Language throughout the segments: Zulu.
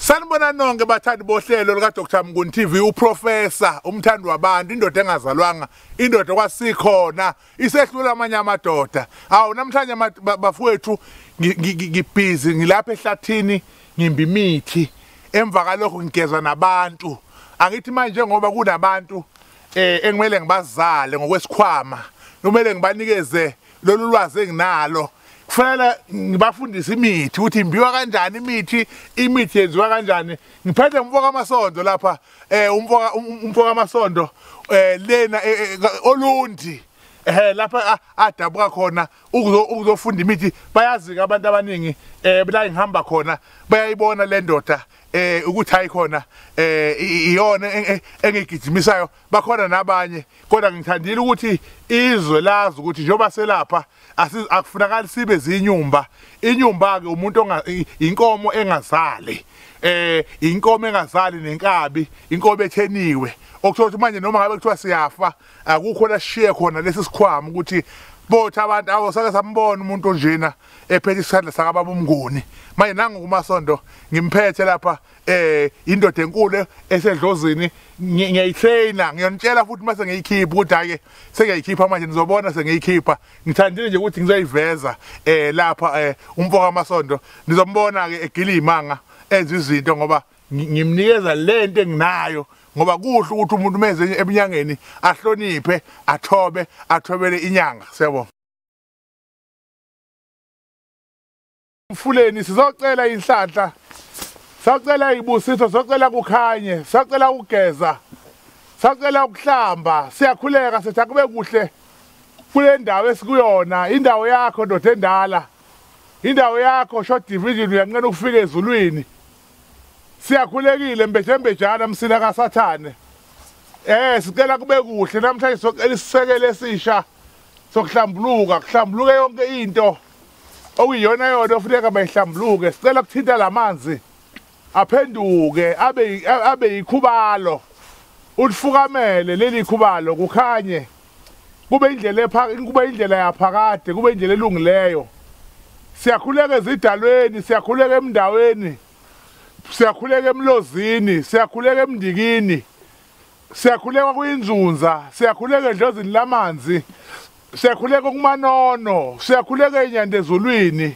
Sanibona nonke bathandi bohlelo lika Dr Mnguni TV uprofessor umthandi wabantu indoda engazalwanga indoda kwasikhona isehlula amanye amadoda awu namhlanje bafowethu ngibhizi ngilapha ehlathini ngimbi imithi emva kalokho ngigeza nabantu angithi manje ngoba kunabantu eh engimele ngibazale ngokwesikhwama kumele ngibanikeze lolu lwazi enginalo kufanele ngibafundise imithi ukuthi imbiwa kanjani imithi imithi yenziwa kanjani ngiphethe umfoka amasondo lapha eh umfoka um, umfoka amasondo eh lena eh, eh, olundi eh lapha adabuka khona ukuzofunda imithi bayazi abantu abaningi eh la ngihamba khona bayayibona le ndoda eh ukuthi ayikhona eh iyona engigijimisayo bakhona nabanye kodwa ngithandile ukuthi izwe lazi ukuthi njengoba selapha akufunakali sibe zinyumba inyumba ke umuntu inkomo engazali eh inkomo engazali nenkabi inkomo etheniwe okuthiwa manje noma ngabe kuthiwa siyafa akukho lashiye khona lesi sikhwama ukuthi bothi abantu awo sake sambona umuntu onjena ephethe isandla sakababa umnguni manje nangu kumasondo ngimphethe lapha eh indoda enkulu esedlozini ngiyayitraina ngiyonitshela futhi mase ngiyikhipha ukuthi ake sengiyayikhipha manje nizobona sengiyikhipha ngithandile nje ukuthi ngizoyiveza eh lapha eh umfoka amasondo nizombona ke egila imanga enza izinto ngoba ngimnikeza lento enginayo ngoba kuhle ukuthi umuntu meze ebunyangeni ahloniphe athobe athobele inyanga siyabonga mfuleni sizocela inhlanhla sacela ibusiso sacela kukhanye sacela ukugeza sacela ukuhlamba siyakhuleka sithi akube kuhle kule ndawo esikuyona indawo yakho ndoda endala indawo yakho short division uyanqena ukufika ezulwini Siyakhulekile mbejembejana msila kaSathane. Eh sicela kube kuhle namhlanje socela isisekelo esisha sokuhlambuluka kuhlambuluke yonke into okuyiyona yona ofuneka bayihlambuluke sicela kuthinta lamanzi aphenduke abe abe yikhubalo ulifukamele leli khubalo kukhanye kube indlela epha kube indlela yaphakade kube indlela elungileyo siyakhuleka ezidalweni siyakhuleka emndaweni siyakhuleka emlozini siyakhuleka emndikini siyakhuleka kuyinzunza siyakhuleka edlozini lamanzi siyakhuleka kumanono siyakhuleka enyandezulwini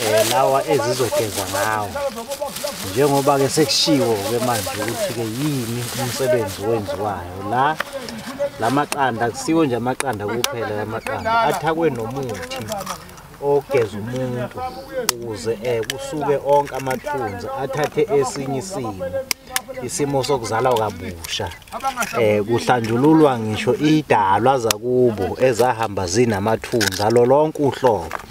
um lawa ezizogeza ngawo njengoba-ke sekushiwo-ke manje ukuthi-ke yini umsebenzi owenziwayo la la maqanda kusiwo nje amaqanda kuphela la maqanda athakwe nomuthi ogeza umuntu ukuze um kusuke onke amathunzi athathe esinye isimo isimo sokuzalwa kabusha eh kuhlanjululwa ngisho idalwa zakubo ezahamba zinamathunzi alolonke uhlobo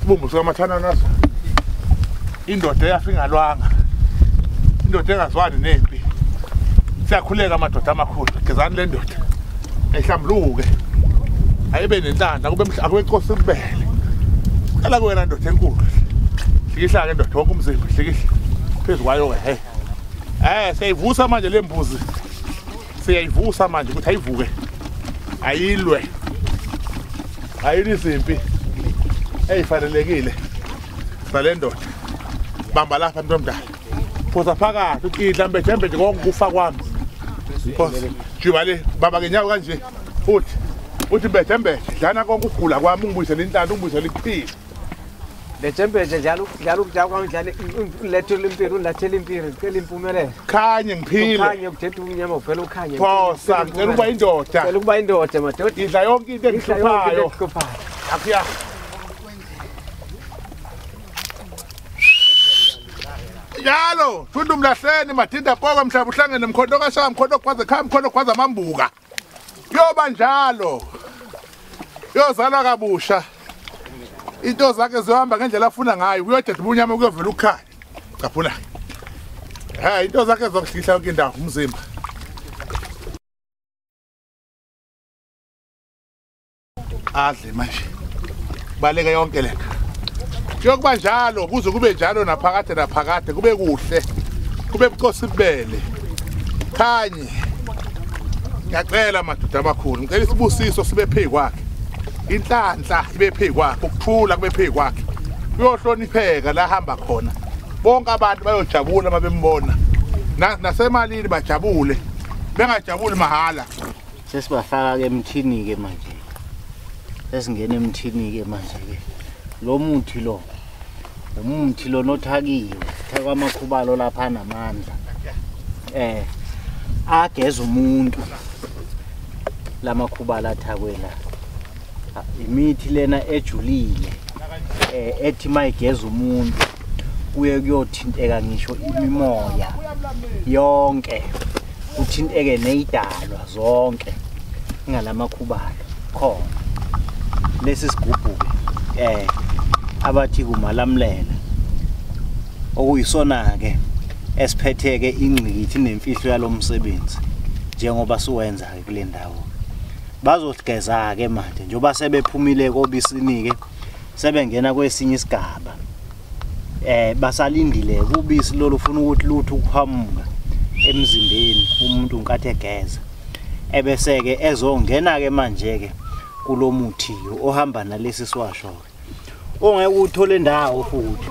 Sibumbu sikamathana naso. Indoda eyafingalwanga. Indoda engazwani nempi. Siyakhuleka amadoda amakhulu. Gezani le ndoda. Ehlambuluke. Ayibe nentanda kube mhla akube inkosi kubele. Cela kuwena ndoda enkulu. Hlikihla ke ndoda wonke umzimba hlikihla. Phezulu kwayo ke hey. Eh seyivusa manje lembuzi. siyayivusa manje ukuthi ayivuke ayilwe ayini izimpi eyifanelekile sale ndoda bamba lapha mntu omdala phosa phakathi uthi idla mbejembe nje konke ukufa kwami phosa juba le bamba ngenyawo kanje uthi uthi mbejembe dlana konke ukugula kwami ungibuyisele intlanda ungibuyisele ikuphile le championship njalo njalo ukujaka kwami njalo ulethela impilo ulethela impilo ngicela impumelelo khanye ngiphile khanye ukuthetha ukunyama uvela ukhanye phosa ngicela ukuba indoda ngicela ukuba indoda madoda idla yonke into engihluphayo akuya njalo thunda umlahleni mathinda poka mhlaba uhlangene mkhondo kashaya mkhondo kwaze khaya mkhondo kwaze amambuka kuyoba njalo uyozalwa kabusha into zakhe ziyohamba ngendlela afuna ngayo kuyodeda ubunyama kuyovela ukukhanya caphula ha into zakhe zokuhlihla yonke indawo umzimba adle manje baleke yonke le kuyokuba njalo kuze kube njalo naphakade naphakade kube kuhle kube bucosi bubele khanye ngiyacela madoda amakhulu ngicela isibusiso sibe phezu kwakhe inhlanhla ibe phezu kwakhe ukuthula kube phezu kwakhe uyohlonipheka la hamba khona bonke abantu bayojabula uma bembona nasemalini bajabule bengajabuli mahhala sesibafaka ke emthini ke manje sesingena emthini ke manje ke lo muthi lo umuthi lo nothakiwe thakwa amakhubalo lapha namandla eh ageza umuntu lamakhubala athakwe la imithi lena ejulile eh ethi mayigeza umuntu kuye kuyothinteka ngisho imimoya yonke kuthinteke neyidalwa zonke ingalamakhubalo khona lesi sigubhu eh abathi kumalamlela okuyisona ke esiphetheke ingqikithi nemfihlo yalomsebenzi njengoba siwenza ke kule ndawo bazogeza ke manje njoba sebephumile kobisinike sebengena kwesinye isigaba eh basalindile kubisi lolu ufuna ukuthi luthu ukuhamuka emzimbeni umuntu nkathi egeza ebese ke ezongena ke manje ke kulomuthi ohamba nalesi siwasho ke ongeke uthole ndawo futhi